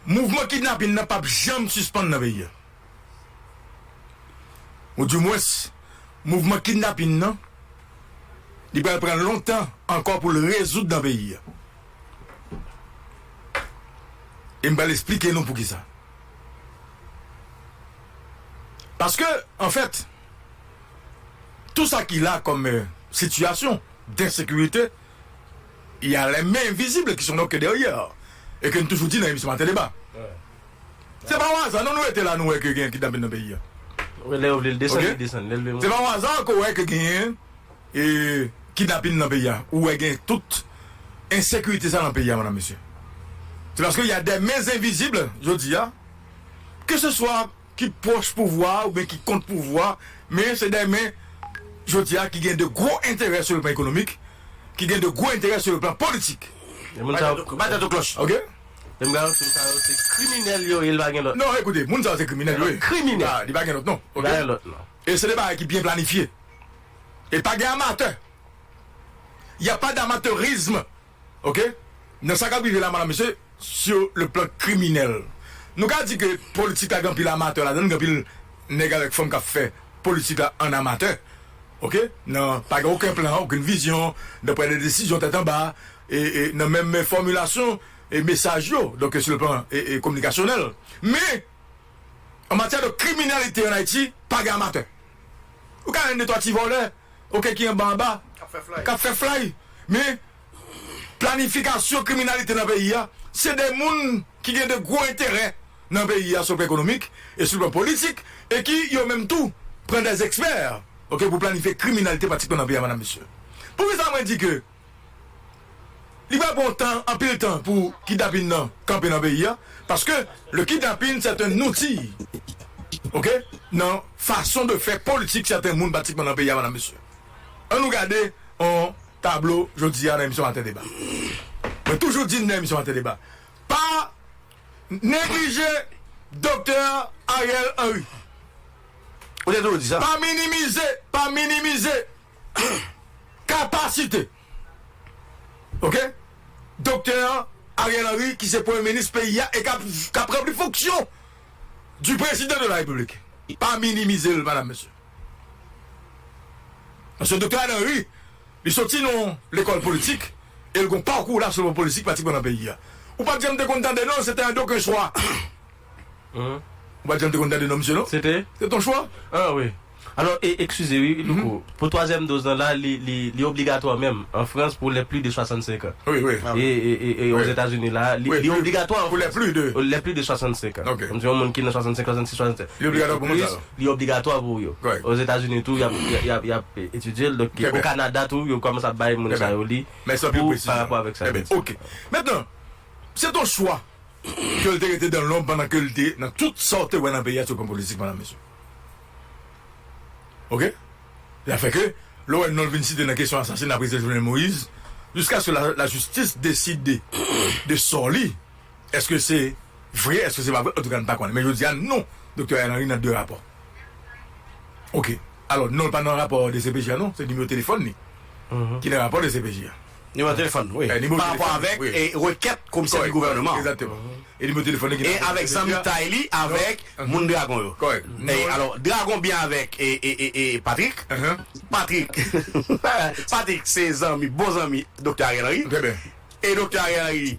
Mouvman kidnapin nan pap janm sispann nan peyi a. Ou di mwens, mouvman kidnapin nan, li pral pran lontan ankò pou l rezoud nan peyi a. E m pral esplike nou poukisa. Paske, anfèt, tou sa ki la kòm sitiyasyon densekirite, y a les mains invisibles qui sont donc derrière et ke n toujou di nan emisyon maten deba se pa yon aza non nou rete la nou wè ke gen kidnapin nan peyi a ok se pa yon aza ke w wè ke gen kidnapin nan peyi a ou wè gen tout ensekirite sa nan peyi a madame mesye se paske y a des mains invisibles jodi a ke se swa ki pwòch pouvwa a oubyen ki kont pouvwa a, men se de men jodi a ki gen de gwo enterè sou le plan ekonomik, ki gen de gwo enterè sou le plan politik. Men moun sa yo. Bay tèt ou klòch, ok? Men bagay yo, moun sa yo se kriminèl yo ye, li pa gen lòt. Non, ekoute, moun sa yo se kriminèl yo ye. Kriminèl. Li pa gen lòt non, ok? Li pa gen lòt non. E se de bagay ki byen planifye. E pa gen amatè. Y a pas d'amateurisme ok nan sa kap rive la madam mesye sur le plan kriminèl nou ka di ke politik la gen anpil amatè ladann gen anpil nèg avèk fanm kap fè politik la an amatè ok nan pa gen oken plan oken vizyon nan pran de desizyon tèt anba e nan menm fòmilasyon e mesaj yo donk sur le plan e kominikasyonèl men an matyè de kriminèlite an Ayiti pa gen amatè. Ou ka jwenn de twa ti vòlè ok ki anba anba k ap fè flay men planifikasyon kriminalite nan peyi a se de moun ki gen de gwo enterè nan peyi a sou plan ekonomik e sou plan politik e ki yo menm tou pran de ekspè ok pou planifye kriminalite pratikman nan peyi a madam mesye. Poukisa mwen di ke. Li pral pran tan, anpil tan pou kidnapin nan kanpe nan peyi an, paske le kidnapin c'est un outil ok nan fason de fè politik sèten moun patikman nan peyi a madam mesye. An nou gade yon tablo jodi a nan emisyon maten deba. Mwen toujou di nan emisyon maten deba pa neglije doktè Ariel Henry, pa minimize, pa minimize kapasite ok Doktè Ariel Henry ki se premye minis peyi a e kap ranpli fonksyon di prezidan de la repiblik pa minimize l madam mesye paske Doktè Ariel Henry li soti nan yon lekòl politik e l gon pakou la sou politik patikman nan peyi a ou pat janm te konn tande non se te yon doken chwa ou pat janm te konn tande non misye non se te yon chwa. Alò, e, ekskize wi, Louko, pou twazyèm doz lan la, li, li, li obligatwa menm an Frans pou les plus de 65 ans? Wi, wi. E, e, e, e Ozetazini la, li, li obligatwa an Frans. Pou les plus de. Les plus de 65 ans. Ok. Kòmsi yon moun ki nan 65, 66, 67. Li obligatwa pou moun sa yo. Li obligatwa pou yo. Kòrèk. Ozetazini tou, y ap, y ap, y ap etidye l, donk ki, o Kanada tou, yo kòmanse ap bay moun sa yo li. Mèsi anpil pou presizyon an. Pou, pa rapò avèk sa yo. Trè byen. Ok. Mentnan, se ton chwa ke l te rete dan lonb pandan ke l te nan tout sa w te wè nan peyi a sou plan politik, Madam Mesye? Ok. Li afè ke, lè w wè non l vin site nan kesyon asasina Prezidan Jovenel Moïse, jiskaske lajistis deside de sò li, èske se vre, èske se pa vre, antouka n pa konnen. Men jodi a, non Doktè Ariel Henry nan de rapò. Ok. Alò, non l pa nan rapò dcpj a non, se nimewo telefòn li ki nan rapò dcpj a. Nimewo telefòn wi pa rapò avèk rekèt komisè di gouvèneman an e avèk zanmitay li avèk moun dragon yo alò dragon byen avèk Patrik Patrik Patrik se zanmi bon zanmi doktè Ariel Henry e doktè Ariel Henry.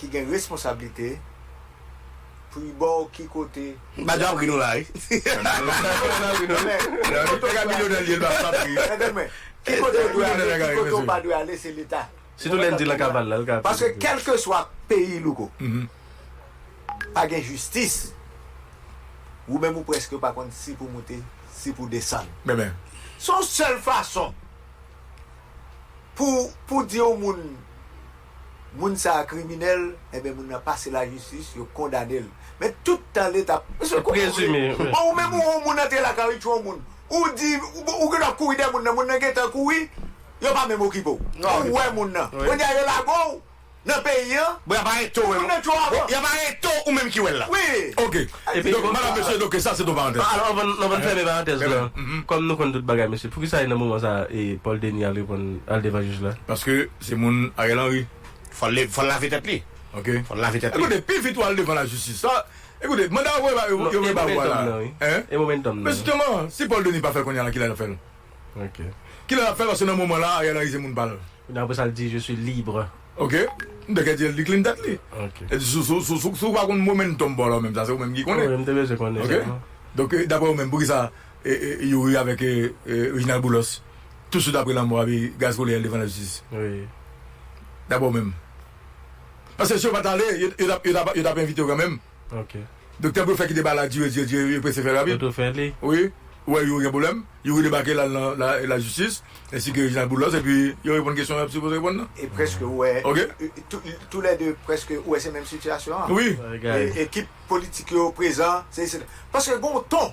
ki gen responsablite pou y ba w ki kote pou y ale. Ki kote w dwe ale, ki kote w pa dwe ale se leta. Paske kèlkeswa peyi Louko, pa gen jistis, wou menm wou prèske pa konn si pou moute, si pou desann. Se yon sèl fason. Pou pou di yon moun moun sa a kriminèl enben moun nan pase lajistis yo kondane l men tout tan l eta Mesye kote w ye bon ou menm ou yon moun antre lakay w y tchwe yon moun ou di ou gendwa kouri dèyè moun nan moun nan gentan kouri yo pa menm okipe w ou wè moun nan kounye a yo lage w nan peyi an. Bon yap arete w epi bon yap arete w ou menm ki wè l la ok donk madam mesye donk sa se ton parantèz la. Alò anvan n fèmen parantèz la kòm nou konn tout bagay mesye poukisa e nan moman sa Paul Denis al reponn al devan jij la. Paske se moun Ariel Henry. Fò l fò l lave tèt li ok fò l lave tèt li. Ekoute pi vit wal devan la jistis sa ekoute manda yo vle ba ou a la hein e momentum nan wi e momentum nan wi men justement si Paul Denis pa fè l kounye a lan kilè lap fè l. Ok. Kilè lap fèl paske nan moman la Ariel Henry se moun pal. Dapre sal di je suis libre. Ok. M te kè di el di clean tèt li. Ok. El di sou sou sou sou sou pa konn momentum bon alors menm sa se ou menm ki konnen. Wi m te bezwen konnen sa. Ok. Donk dapre ou menm poukisa Youri avèk Reginald Boulos tout swit apre lanmò a pi gaz kole el devan la jistis. Wi. Dapre ou menm. Paske si yo pat ale yo tap yo tap yo tap envite yo kanmenm. Ok. Doktè blofè kite bal la dire dire dire yo prese fè rapid. Toto fè li. Wi, ou wè Youri gen pwoblèm, Youri debake l al nan lajistis ensi ke Reginald Boulos epi yo reponn kesyon y ap sipoze reponn nan. E prèske ou wè Ok. tou lè 2 prèske ou wè se menm sitiyasyon an. Wi. Ekip politik yo prezan, sesi sela. Paske gen yon ton.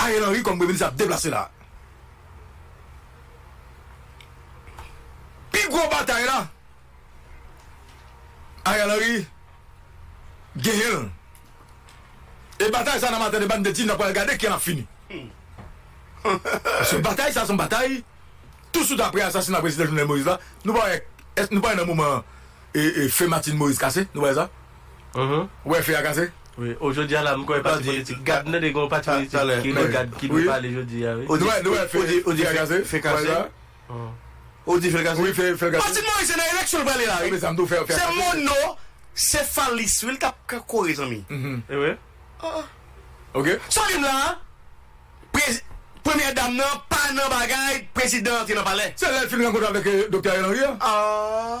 Ariel Henry kòm premye minis ap deplase la. Pi gwo batay la Ariel Henry genyen l. E batay sa nan maten debat m te di n ap pral gade kijan l ap fini. Paske batay sa se yon batay tousuit aprè asasina prezidan Jovenel Moïse la. Nou pa wè nan moman fen Martine Moïse kase, nou pa wè sa? Wè fè a kase? Wi, oh jodi a la m kwè gen pati politik. Gad nou tande gen yon pati politik ki rele gad ki dwe pale jodi a wi. Ou di fè kase? Ou di fè kase? Patrick Moise se nan eleksyon l prale la wi. Se mono sefalis wi l tap kore zanmi. Sa w di m la a? Premyè dam nan pa nan bagay prezidan antre nan palè. Se lè l fin rankontre avèk doktè Ariel Henry a.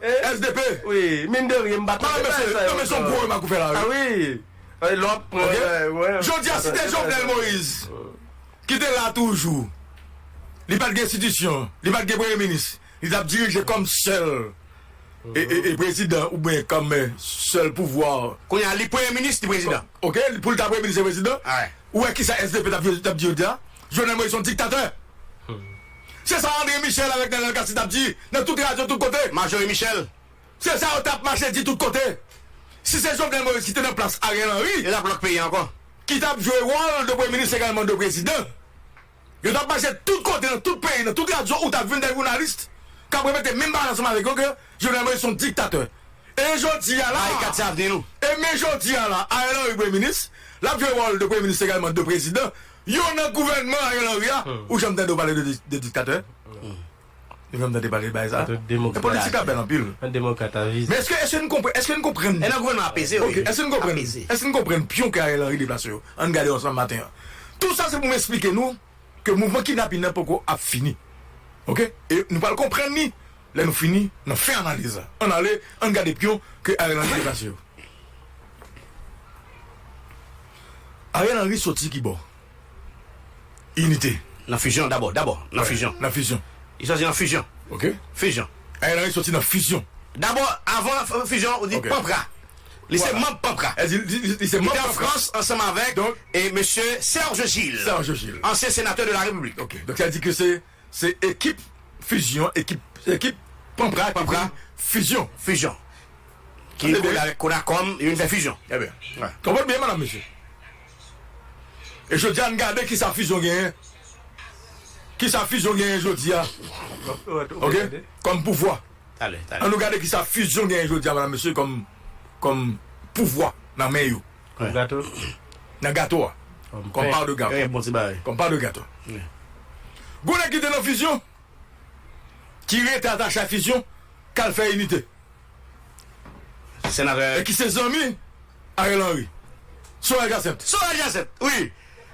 Sdp mine de rien m pa tande bagay sa yo ankò a wi e lè w ap pran jodi a si te Jovenel Moïse ki te la toujou li pat gen enstitisyon li pat gen premye minis li tap dirije kòm sèl e prezidan oubyen kòm sèl pouvwa kounye a li premye minis li prezidan ok pou l ta premye minis e prezidan ou wè kisa sdp tap di jodi a Jovenel Moïse son diktatè. Se sa André Michel avèk Nènèl Cassy tap di nan tout radyo tout kote. Majori Michel. Se sa yo tap mache di tout kote. Si se Jovenel Moïse ki te nan plas Ariel Henry. Yo tap lòk peyi ankò. Ki tap jwe wòl de premye minis egalman de prezidan. Yo tap mache tout kote nan tout peyi nan tout radyo ou tap jwenn dè journaliste kap repete menm bagay ansanm avèk yo ke Jovenel Moïse son diktatè. E jodi a la. Barikat se avni nou. E men jodi a la Ariel Henry premye minis. Lap jwe wòl de premye minis egalman de prezidan. Yo nan gouvènman Ariel Henry a ou janm tande yo pale de diktatè? Ou janm tande pale de bagay sa? Men politik la bèl anpil. Men èske n konprann, èske n konprann. E nan gouvènman apeze wi. Ok, èske n konprann, èske n konprann pyon ke Ariel Henry deplase yo? Ann gade yo ansanm maten an. Tout sa se pou m esplike nou ke mouvman kidnapin nan poko ap fini. Ok? E nou pral konprann ni lè nou fini nan fen analiz la. Ann ale, ann gade pyon ke Ariel Henry deplase yo. Ariel Henry soti ki bò? Inite. Nan fizyon dabò, dabò nan fizyon. Nan fizyon. Li soti nan fizyon. Ok. Fizyon. Ariel Henry soti nan fizyon. Dabò, avan fizyon, li panpra. Li se manb panpra. Li se manb panpra. Li te an Frans ansanm avèk mesye Serge Gilles. Serge Gilles. Ansyen senatè de la Repiblik. Ok. Donk sa vle di ke se. Se ekip fizyon, ekip, ekip panpra ki vin fizyon. Fizyon. Ki Tande byen. kole, konakòm, yo vin fè fizyon. Trè byen. Wè. Konprann byen medam mesye. E jodi a n gade ki sa fizyon genyen, ki sa fizyon genyen jodi a, ok, kòm pouvwa. Tale, tale. An nou gade ki sa fizyon genyen jodi a medam mesye kòm, kòm pouvwa nan men yo. Nan gato? Nan gato a. Kòm part de gato. Bon ti bagay. Kòm part de gato. Gwo nèg ki te nan fizyon, ki rete atache a fizyon, k al fè inite. Senatè. E ki se zanmi Ariel Henry. Sorel Jacinthe. Sorel Jacinthe! Wi!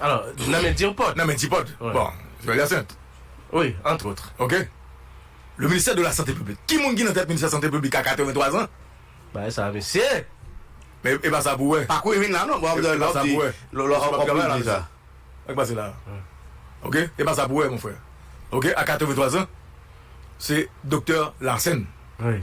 Alò, nan men Dirpot. Nan men Dirpot. Bon, Joël Hyacinthe. Wi, entre autres. Ok. Le ministère de la santé publique. Ki moun ki nan tèt ministè sante piblik a 83 zan? Bagay sa a mesye! Men e pa sa pou wè. Pa kou e vin la non. Bon, e pa sa pou wè. Lò lò ap travay la mesye. Sa ki pase la a? Ok. E pa sa pou wè mon frè. Ok. A 83 zan, se doktè Larsen. Wi.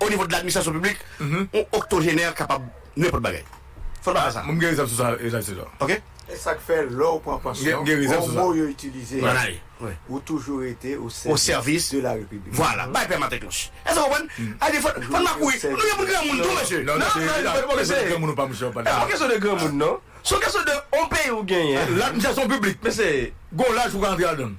O nivo de l'administration publique, yon octogénaire kapab nenpòt bagay. Fò n pa fè sa. M gen rezèv sou sa, Reginald Cesar. Ok? E sa k fè lè w pran pansyon, bon mo yo itilize a, ou toujou rete osèvis de la Repiblik. Vwala. Bay pè m atèkloch. Èske w konprann? Ay defo, fò n pa kouri. Nou gen moun granmoun tou, mesye. Non, non, se pa kesyon de granmoun ou pa, mesye, w ap pale la. Se pa kesyon de granmoun, non. Se yon kesyon de yon peyi ou genyen. L'administration publique, mesye, gen yon laj pou w ka antre ladan l.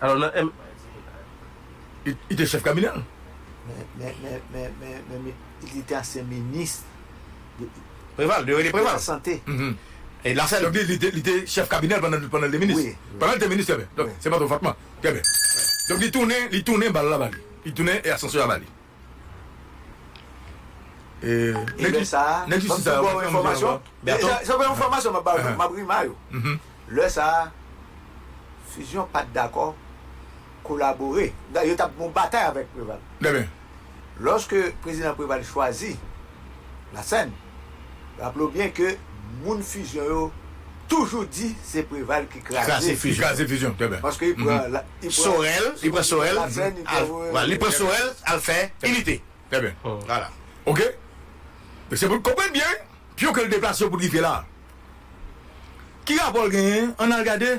Alò nan M. Li te chèf kabinè l. Men li te ansyen minis. Preval, yo rele Preval. Lasante. Lasante, donk li te chèf kabinè l pandan l te minis. Wi. Pandan l te minis, trè byen. Se pa twò fòtman. Trè byen. Donk li tounen bal la ba li. Li tounen asansè a ba li. Lè sa a, m ap tou ba w enfòmasyon. Se pa enfòmasyon m ap ba w, m ap rema yo. Lè sa a, Fusion pa t dakò kolabore. Yo t ap gen yon batay avèk Preval. Lòske Prezidan Preval chwazi Lasèn, Raple w byen ke moun Fusion yo toujou di se Preval ki kraze Fusion. Paske li pran Sorel, li pran Sorel li pran Sorel al fè Inite. Trè byen. Wala. Ok. Se pou n konprann byen pyon ke l deplase yo pou n rive la a. Ki rapò l genyen? Ann al gade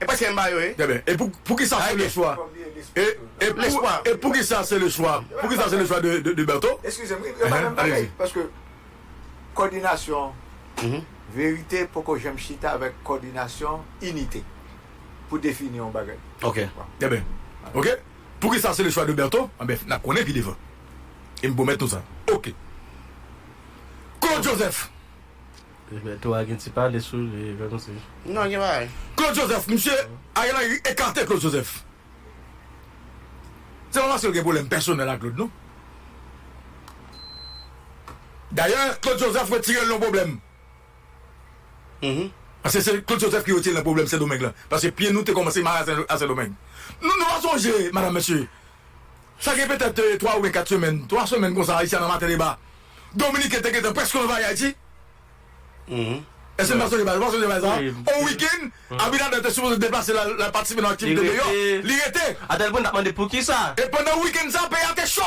E pwèske m ba yo e. Trè byen. E pou, poukisa se le chwa. E, e pou, Lespwa. e poukisa se le chwa, poukisa se le chwa de, de, de Bertho? Eskize m, wi, yo pa menm bagay. Alezi. Paske kòdinasyon verite poko janm chita avèk kòdinasyon inite pou defini yon bagay. Ok. Trè byen. Ok. Poukisa se le chwa de Bertho? Anben, n ap konnen pi devan. E m pwomèt nou sa. Ok. Claude Joseph. Liberto a gen ti pale sou li menm si. Non gen bagay. Claude Joseph misye Ariel Henry ekate Claude Joseph se pa paskel gen pwoblèm pèsonèl ak Claude non dayè Claude Joseph retirel nan pwoblèm paske se Claude Joseph ki retirel nan pwoblèm sendomeng lan paske pye nou te kòmanse mare a sendomeng nou pa sonje madam mesye Sa gen petèt 3 oubyen 4 semèn, 3 semèn konsa Haitian nan Maten Deba, Dominiken te gentan prèske anvayi Ayiti. Èske n pa sonje bagay sa? Ou pa sonje bagay sa a? On wikenn, Abinader te sipoze deplase l al patisipe nan aktivite deyò, li rete. Atèlpwen n t ap mande poukisa. E pandan wikenn sa a, peyi a te cho.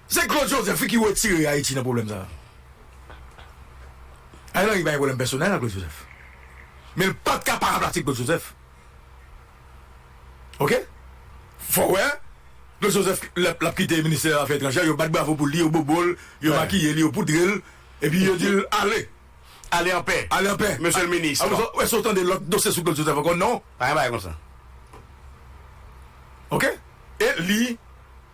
Se Claude Joseph wi ki retire Ayiti nan pwoblèm sa a. Ariel Henry pa gen pwoblèm pèsonèl ak Claude Joseph. Men l pa t ka pa ranplase Claude Joseph. Ok? Fò w wè, Claude Joseph lè l ap kite ministè afè etranjè, yo bat bravo pou li, yo bobo l, yo makiye li, yo poudre l, epi yo di l ale. Ale an pè. Ale an pè. Mesye l minis. Apre sa, ou èske ou tande lòt dosye sou Claude Joseph ankò? Non. Pa gen bagay konsa. Ok? E li.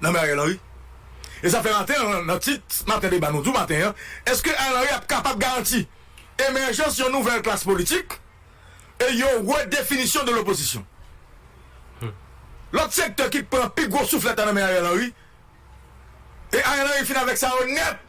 nan men Ariel Henry. E sa fè maten an nan tit maten deba nou di w maten an, èske Ariel Henry ap kapab garanti emèjans yon nouvèl klas politik e yon redefinisyon de lopozisyon? Lòt sektè ki pran pi gwo souflèt la nan men Ariel Henry e Ariel Henry fin avèk sa yo nèt.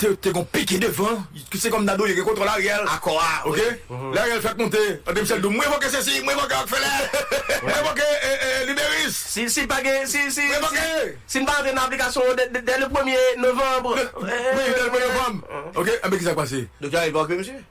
te gon pike devan ki se kòm Dadou yo gen kontwòl Ariel akò a ok lè Ariel fèk monte tande Michel do mwen evoke sesi mwen evoke Rockefeller mwen evoke Liberis si pa gen si si mwen evoke si n pa antre nan aplikasyon yo dè le premye novanb premye novanb ok anben kisa k pase. Doktè a evoke misye?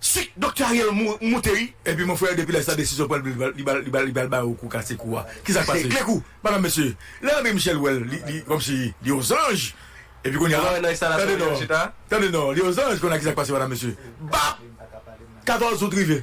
Sik Doktè Ariel moute wi. Epi mon frère depi lè sa desizyon pran li pral ba ou kou kase kou a kisa k pase. Kle kou madame mesye lè André Michel wè l li kòmsi li yon zanj epi kounya tande non tande non li yon zanj kounya kisa k pase madame mesye bap 14 out rive.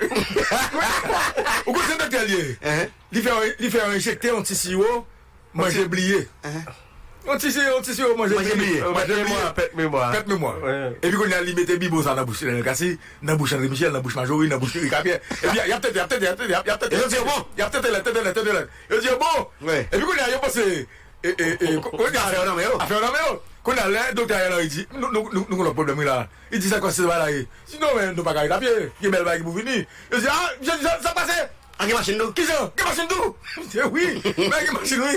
Ou konn se doktè li ye? Li fè yon enjekte yon ti siwo manje bliye. Yon ti siwo manje bliye. Pèt memwa. Epi kounye a li mete bibo sa nan bouch Lionel Cassy, nan bouch André Michel, nan bouch Marjorie, nan bouch Eric Capier. Epi y ap tete, y ap tete, y ap tete, y ap tete. Yo di yo bon. Y ap tete lèt, tete lèt, tete lèt. Yo di yo bon. Epi kounye a yo panse afè yo nan men yo. Afè yo nan men yo. Kounye a lè doktè Ariel Henry di nou gen lòt pwoblèm wi la a. Li di sa k pase nan bagay la ye. Li di non men nou pa ka ret apye, gen bèl bagay ki pou vini. Yo di a, misye di sa k pase? A gen machin tou? Kijan? Gen machin tou? Misye wi, men a gen machin wi.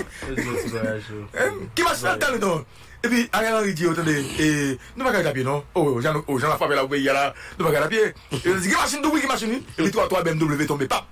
Ki machin nan tann ou non? Epi Ariel Henry di yo tande, e nou pa ka ret apye non. O jan nou, o jan la frape la pou peyi a la, nou pa ka ret apye. Yo di gen machin tou wi, gen machin wi. Epi 3 bmw tonbe pap.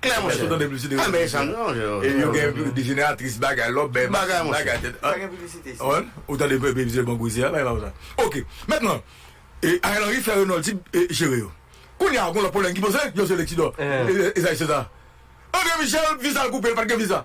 Klè monchè. Pa bay sa non monchè. E yo gen dejeneratris bagay lò bè machin bagay tèt. Pa gen piblisite isit. An, ou tande piblisite bank Gwezyè a bay pa ou sa. Ok. Mentnan, Ariel Henry fè Renault di jere yo. Kounye a gon lòt pwoblèm ki poze, José Lexidor, Esaïe César. André Michel viza l koupe, l pat gen viza.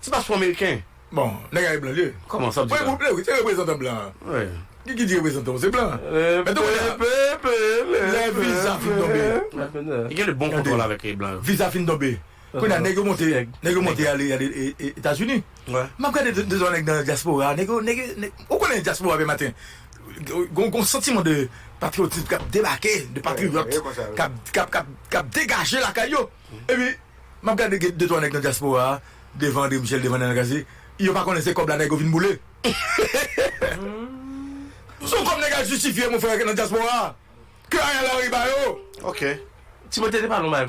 Ti paspò ameriken. Bon, nèg a e blan liye. Kòman, sa w di la? Mwen wi, se reprezantan blan an. Wi. Ki di reprezantan w se blan. Epe, epe, epe, epe. Lè viza fin tonbe. Li gen de bon kontwòl avèk blan yo. Viza fin tonbe. Kounye a nèg yo monte, nèg yo monte ale Etazini. M ap gade 2 twa nèg nan dyaspora, nèg yo, nèg yo, nèg yo. Ou konnen dyaspora vè maten gen yon santiman de patriyotism k ap debake, de patriyòt k ap, k ap, k ap degaje lakay yo. Epi map gade gen de twa nèg nan dyaspora a devan Andre Michel devan Nana Cassy yo pa konnen se kòb la nèg yo vin boule se yon kòb nèg al jistifye mon frère nan dyaspora a ke Ariel Henry ba yo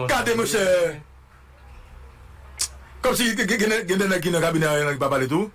gade mon chè kòmsi gen de nèg ki nan kabinè Ariel Henry ki pa pale tou.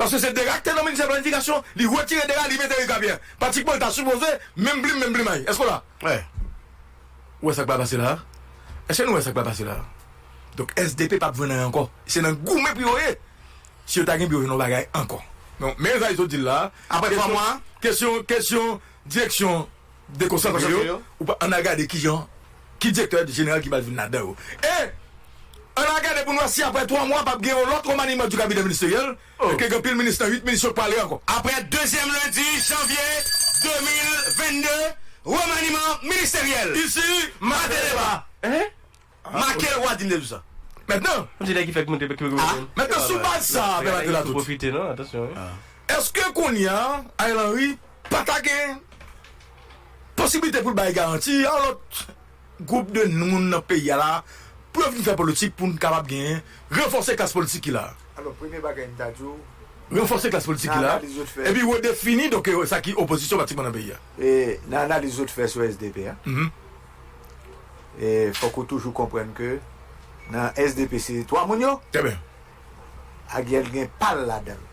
Paske se Dera ki te nan ministè planifikasyon, li retire Dera li mete Rika Pyè. Pratikman li ta sipoze menm plim menm plimay. Èske w la? Wè. Ou wè sa k pral pase la a? Èske nou wè sa k pral pase la a? Donk sdp pap jwenn anyen ankò. Se nan goumen pou yo ye. Si yo ta gen pou yo jwenn yon bagay ankò. Men sa li sot di l la a. Apre 3 mwa? Kesyon, kesyon direksyon. dekonsantre yo, ann al gade ki jan, ki direktè jeneral ki pral vin ladan yo. E, ann al gade pou n wè si aprè twa mwa pap gen yon lòt remaniman di kabinè ministeryèl e ke gen pil minis nan uit minis yo k pale ankò. Aprè dezyèm lendi janvye 2022, remaniman ministeryèl. Isi, Mateleva. Make lwa di 9 zan. Mètnan, mètnan sou baz sa a, Bernard Delatour, èske kounye a Ariel Henry pa ta gen posiblite pou l bay garanti yon lòt gwoup de moun nan peyi a la a pou yo vin fè politik pou n kapab genyen ranfòse klas politik ki la a? Alò, premye bagay m ta di w. Ranfòse klas politik ki la a epi redefini donk sa ki opozisyon pratiman nan peyi a. Nan analiz ou te fè sou sdp a, E fòk ou toujou konprann ke nan sdp se 3 moun yo. Trè byen. Agyèl gen pa l ladan l.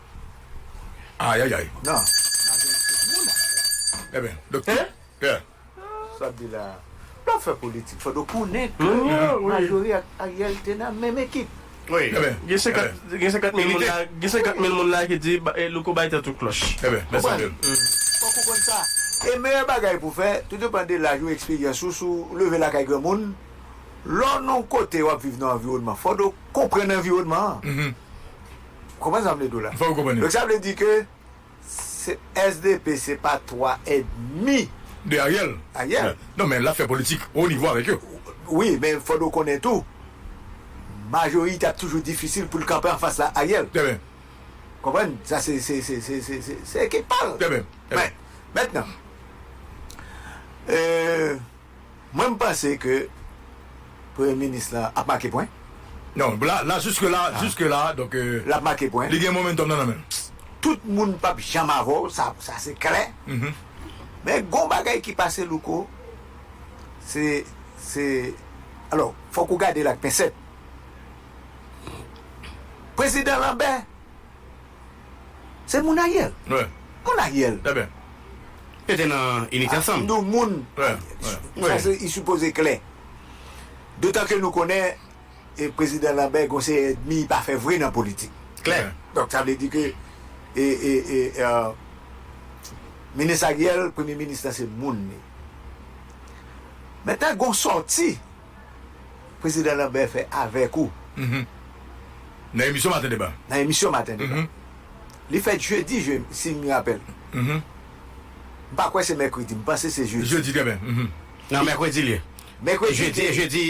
Ayayay. Non. Majorite moun nan la. Trè byen. Doktè. Hein? Pè. Sa w ap di la a. Lè w ap fè politik fòk ou konnen ke majori ak Aryèl te nan menm ekip. Gen 50 mil moun la Gen 50 mil moun la ki di Louko bay tèt ou klòch Konprann Fòk ou konn sa E meyè bagay pou fè Tou depan de laj ou eksperyans ou Si w leve lakay granmoun Lè w nan yon kote w ap viv nan anviwònman Fò do konprann anviwònman an Ou konprann sa m vle di w la Donk sa vle di ke Sdp se pa 3 et demi. De Ariel. Ariel. Non men lap fè politik o nivo avèk yo. Wi men fòd ou konnen tou majorite ap toujou difisil poul kanpe anfas la Ariel. Trè byen. Konprann sa se se ekip pal. Trè byen. Mètnan. Mwen m panse ke premye minis la ap make pwen. Non la la juske la juske la donk Lap make pwen. li gen momentum nan nan menl. Tout moun pap janm avè w sa sa se klè men gon bagay ki pase Louko se se alò fòk ou gade l ak pensèt prezidan Lanbè Se moun Ariel. Moun Ariel. Yo te nan inite ansanm. Nou moun. Sa se i sipoze klè. Dotan ke nou konnen Prezidan Lambert gon seri èdmi i pa fè vre nan politik. Klè. Donk sa vle di ke Minis Ariel, Premye Minis la se moun li. Mentnan gon sòti. Prezidan Lambert fè avèk ou. Nan emisyon Maten Deba. Nan emisyon Maten Deba. Li fèt jedi, si m rapèl. M pa kwè se mèkredi, m panse se jedi. Jedi, trè byen. Nan mèkredi l ye. Mèkredi l ye. Jedi,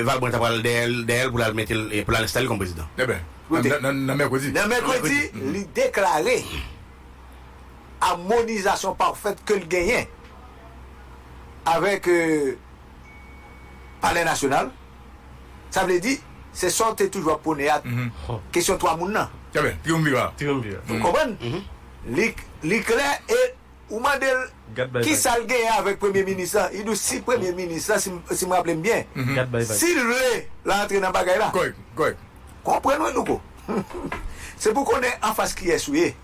Valbrun ta pral dèyè l pou l al mete l, pou l al enstale l kòm prezidan. Trè byen. Nan mèkredi. Nan mèkredi, li deklare. amonizasyon pafèt ke l genyen avèk Palè Nasyonal, sa vle di, se sa w te toujou ap pwone a, kesyon twa moun nan. Trè byen, triumvirat. Ou konprann? Li klè e ou mande l ki sa l genyen avèk Premye Minis lan, li di w si Premye Minis lan, si m raple m byen, si l vle l antre nan bagay la. Konprann, wi Louko? Se pou w konnen anfas kiyès ou ye.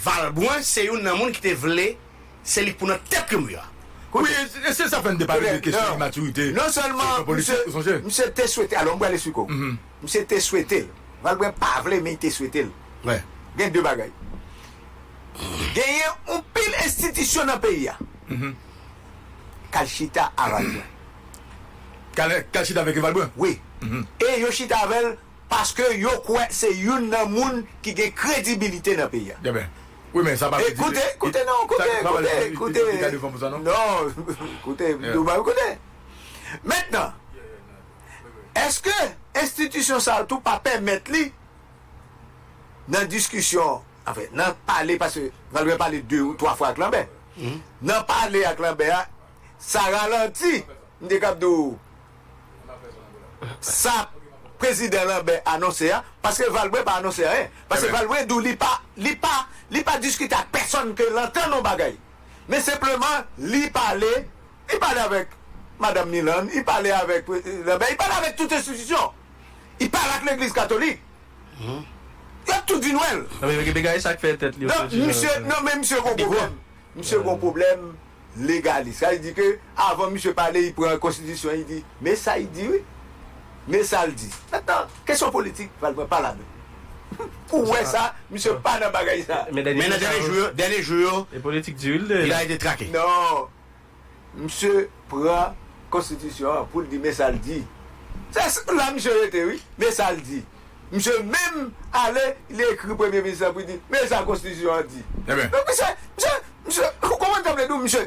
Valbrun se youn nan moun ki te vle se li k pou nan tèt Youri a. Wi, e se sa fè n te pale de kesyon imatirite sou plan politik, ou sonje? Msye te swete, alò m pral esplike w. Msye te swete l. Valbrun pa vle men li te swete l. Gen de bagay. Genyen yon pil enstitisyon nan peyi a k al chita a Valbrun. K al chita avèk Valbrun? Wi. E yo chita avè l. paske yo kwè se youn nan moun ki gen kredibilite nan peyi a. Deme. Wi men sa pa vle di. E koute, koute non, koute, koute, koute. Li ka defann pou sa non. Non, koute, ou banm koute. Mentnan, eske enstitisyon sa yo tou pa pèmèt li nan diskisyon, anfen, nan pale, paske Valbrun pale de ou twa fwa ak Lanbè. Nan pale ak Lanbè a, sa ralanti, m te kab di ou. sa prezidan Lambert anonse a paske Valbrun pa anonse anyen paske Valbrun di w li pa li pa li pa diskite ak pèsonn ke l antann yon bagay men senpleman li pale li pale avèk madam Milann li pale avèk prezidan Lambert li pale avèk tout enstitisyon li pale ak legliz katolik y ap tou di nwèl donk misye non men misye gen yon pwoblèm. Misye gon pwoblem legalis. Sa vle di ke avan misye pale li pran konstitisyon li di me sa li di wi. Me sa li di. Mentnan kesyon politik pral pran pa ladan. Ou wè sa misye pa nan bagay sa. Men nan dènye jou yo, dènye jou yo. E politik di wi li de. Li arete trake. Non. Misye pran konstitisyon an poul di men sal di. Se la misye rete wi, men sal di. Misye menm ale li ekri premye minis lan pou li di men sa konstitisyon an di. Donk misye, misye, misye ou konprann sa m vle di w misye.